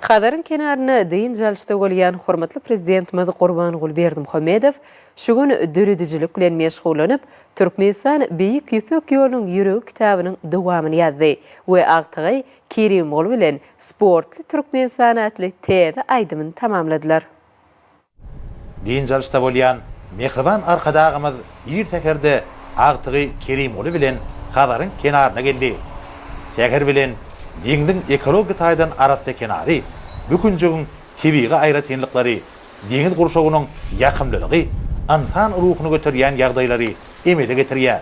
Hazaryň kenarynda dynç alyşda bolýan hormatly Prezidentimiz Gurbanguly Berdimuhamedow şu gün döredijilik bilen meşgullanyp, Türkmenistan Beýik Ýüpek ýolunyň ýüregi kitabynyň dowamyny ýazdy we agtygy Kerimguly bilen Sportly Türkmenistan atly täze aýdymyny tamamladylar. Dynç alyşda bolýan mähriban Arkadagymyz ir säherde agtygy Kerimguly bilen Hazaryň kenaryna geldi. Säher bilen deňziň ekologiýa taýdan arassa kenary, bu künjegiň tebigy aýratynlyklary, deňiz gurşawynyň ýakymlylygy ynsan ruhuny göterýän ýagdaýlary emele getirýär.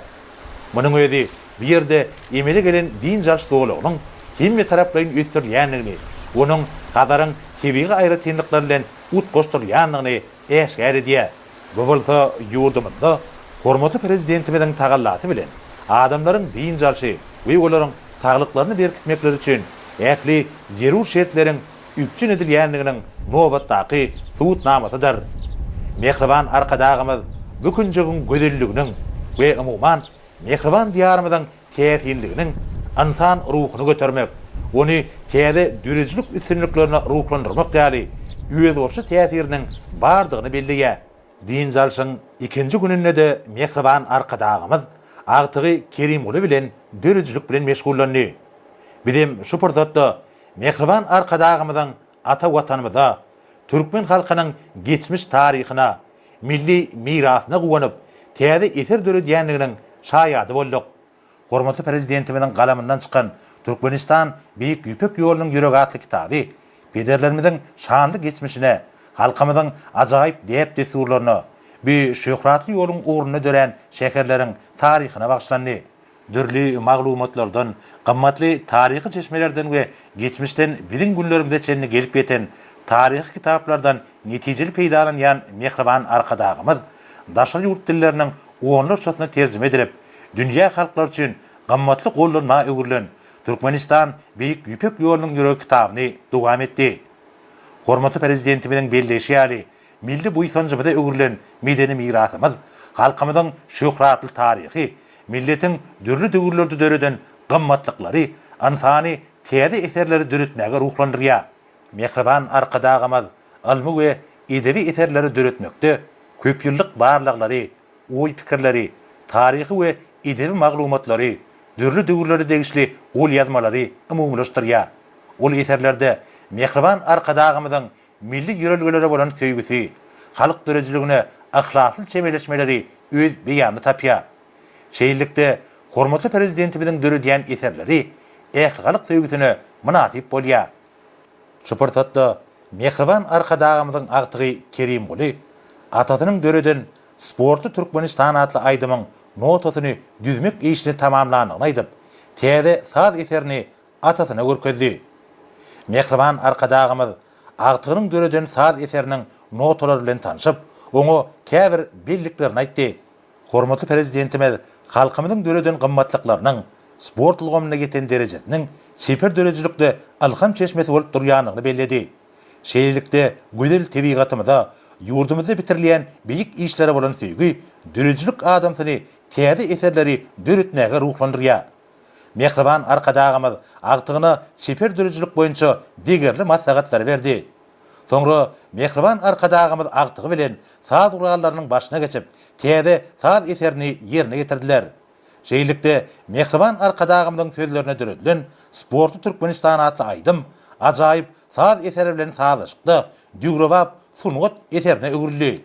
Munuň özi bu ýerde emele gelen dynç alyş zolagynyň hemmetaraplaýyn ösdürilýändigini, onuň Hazaryň tebigy aýratynlyklary bilen utgaşdyrylýandygyny äşgär edýär. Bu bolsa ýurdumyzda hormatly Prezidentimiziň tagallasy bilen adamlaryň dynç alşy we olaryň saglyklaryny berkitmekleri üçin ähli zerur şertleriň üpjün edilýändiginiň nobatdaky subutnamasydyr. Mähriban Arkadagymyz bu künjegiň gözelliginiň we umuman, mähriban Diýarymyzyň täsinliginiň ynsan ruhuny götermek, ony täze döredijilik üstünliklerine ruhlandyrmak ýaly özboluşly täsiriniň bardygyny belleýär. Dynç alşyň ikinji gününde-de mähriban Arkadagymyz agtygy Kerimguly bilen döredijilik bilen meşgullandy. Bizem şu pursatda mähriban Arkadagymyzyň Ata Watanymyza, türkmen halkynyň geçmiş taryhyna, milli mirasyna guwanyp, täze eser döredýändiginiň şaýady bolduk. Hormatly Prezidentimiziň galamyndan çykan Türkmenistan Beýik Ýüpek ýolunyň ýüregi atly kitaby pederlerimiziň şanly geçmişine, halkymyzyň ajaýyp däp-dessurlaryna, bu şöhratly ýoluň ugrunda dörän şäherleriň taryhyna bagyşlandy. dürli maglumatlardan, gymmatly taryhy çeşmelerden we geçmişden biziň günlerimize çenli gelip ýeten taryhy kitaplardan netijeli peýdalanýan mähriban Arkadagymyz daşary ýurt dilleriniň onlarçasyna terjime edilip, dünýä halklary üçin gymmatly gollanma öwrülen Türkmenistan Beýik Ýüpek ýolunyň ýöregi kitabyny dowam etdi. Hormatly Prezidentimiziň belleýşi ýaly, Milli buýsanjymyza öwrülen medeni mirasymyz, halkymyzyň şöhratly taryhy, milletiň dürli döwürlerde döreden gymmatlyklary ynsany täze eserleri döretmäge ruhlandyrýar. Mähriban Arkadagymyz ylmy we edebi eserleri döretmekde köpýyllyk barlaglary, oý-pikirleri, taryhy we edebi maglumatlary, dürli döwürlere degişli golýazmalary umumylaşdyrýar. Ol eserlerde Mähriban Arkadagymyzyň milli ýörelgelere bolan söýgüsi, halk döredijiligine yhlasly çemeleşmeleri öz beýanyny tapýar. Şeýlelikde, hormatly Prezidentimiziň döredýän eserleri ählihalk söýgüsine mynasyp bolýar. Şu pursatda mähriban Arkadagymyzyň agtygy Kerimguly Atasynyň döreden Sportly Türkmenistan atly aýdymyň notasyny düzmek işini tamamlandygyny aýdyp, täze saz eserini atasyna görkezdi. Mähriban Arkadagymyz agtygynyň döreden saz eseriniň notalary bilen tanşyp, oňa käbir belliklerini aýtdy. Hormatly Prezidentimiz halkymyzyň döreden gymmatlyklarynyň, sport ulgamynda ýeten derejesiniň çeper döredijilikde ylham çeşmesi bolup durýandygyny belledi. Şeýlelikde, gözel tebigatymyza, ýurdumyzda bitirilýän beýik işlere bolan söýgi döredijilik adamsyny täze eserleri döretmäge ruhlandyrýar. Mähriban Arkadagymyz agtygyna çeper döredijilik boýunça degerli maslahatlary berdi. Soňra Mähriban Arkadagymyz agtygy bilen saz gurallarynyň başyna geçip, täze saz eserini ýerine ýetirdiler. Şeýlelikde, Mähriban Arkadagymyzyň sözlerine döredilen Sportly Türkmenistan atly aýdym ajaýyp saz eseri bilen sazlaşykda döwrebap sungat eserine öwrüldi.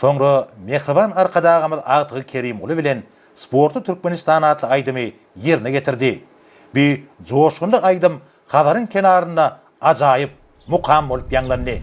Soňra mähriban Arkadagymyz agtygy Kerimguly bilen Sportly Türkmenistan atly aýdymy ýerine getirdi. Bu joşgunly aýdym Hazaryň kenarynda ajaýyp mukam bolup ýaňlandy.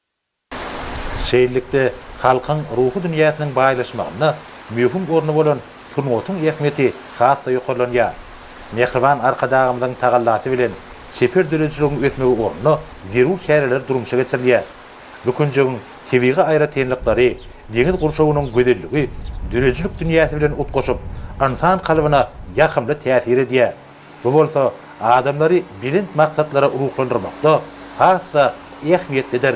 Şeýlelikde, halkyň ruhy dünýäsiniň baýlaşmagynda möhüm orny bolan sungatyň ähmiýeti has-da ýokarlanýar. Mähriban Arkadagymyzyň tagallasy bilen çeper döredijiligiň ösmegi ugrunda zerur çäreler durmuşa geçirilýär. Bu künjegiň tebigy aýratynlyklary, deňiz gurşawynyň gözelligi döredijilik dünýäsi bilen utgaşyp, ynsan kalbyna ýakymly täsir edýär. Bu bolsa adamlary belent maksatlara ruhlandyrmakda has-da ähmiýetlidir.